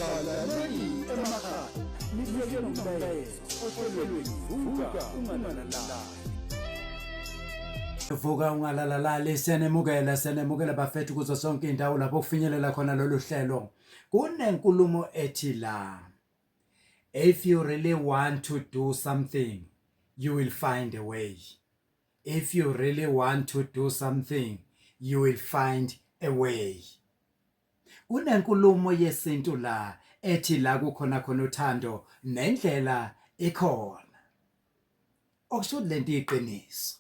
Balaleli emakhaya nibuyeke nomlayezo ohlelweni vuka unganalala vuka ungalalalali siyanemukela siyanemukela bafethu kuzo sonke indawo lapho kufinyelela khona lolu hlelo kunenkulumo ethi la if you really want to do something you will find a way if you really want to do something you will find a way kunenkulumo yesintu la ethi la kukhona khona uthando nendlela ikhona okusho lento iqiniso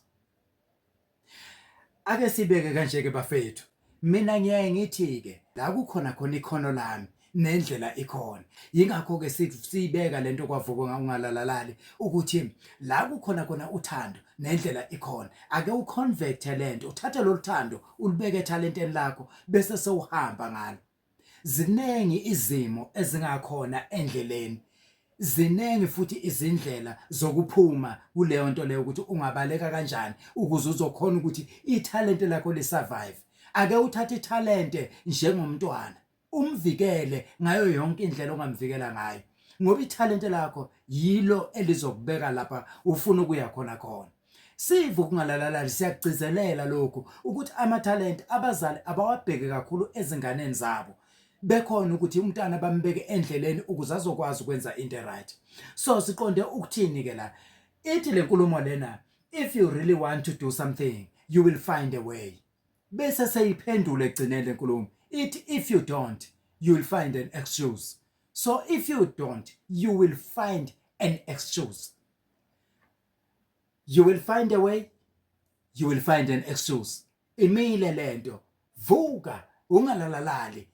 ake sibeke kanje ke bafethu Mina ngiyaye ngithi-ke la kukhona khona ikhono lami nendlela ikhona yingakho-ke siyibeka le nto kwavuko ungalalalali ukuthi la kukhona khona uthando nendlela ikhona ake uconvecte le nto uthathe lolu thando ulibeke ethalenteni lakho bese sewuhamba ngalo Ziningi izimo ezingakhona endleleni. Ziningi futhi izindlela zokuphuma kuleyo nto leyo ukuthi ungabaleka kanjani ukuze uzokhona ukuthi ithalente lakho lisurvive. Ake uthathe ithalente njengomntwana, umvikele ngayo yonke indlela ongamvikela ngayo ngoba ithalente lakho yilo elizokubeka lapha ufuna ukuya khona khona. Siva ukungalalalali siyakugcizelela lokhu ukuthi amathalente abazali abawabheke kakhulu ezinganeni zabo bekhona ukuthi umntana bambeke endleleni ukuze azokwazi ukwenza into right so siqonde ukuthini ke la ithi lenkulumo lena if you really want to do something you will find a way bese seyiphendule egcineni lenkulumo ithi if you don't you will find an excuse so if you don't you will find an excuse you will find a way you will find an excuse imile lento vuka ungalalalali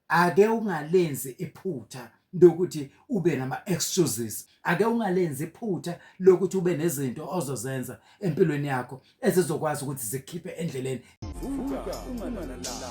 ake ungalenzi iphutha lokuthi ube nama excuses ake ungalenzi iphutha lokuthi ube nezinto ozozenza empilweni yakho ezizokwazi ukuthi zikhiphe endleleni vuka ungalalala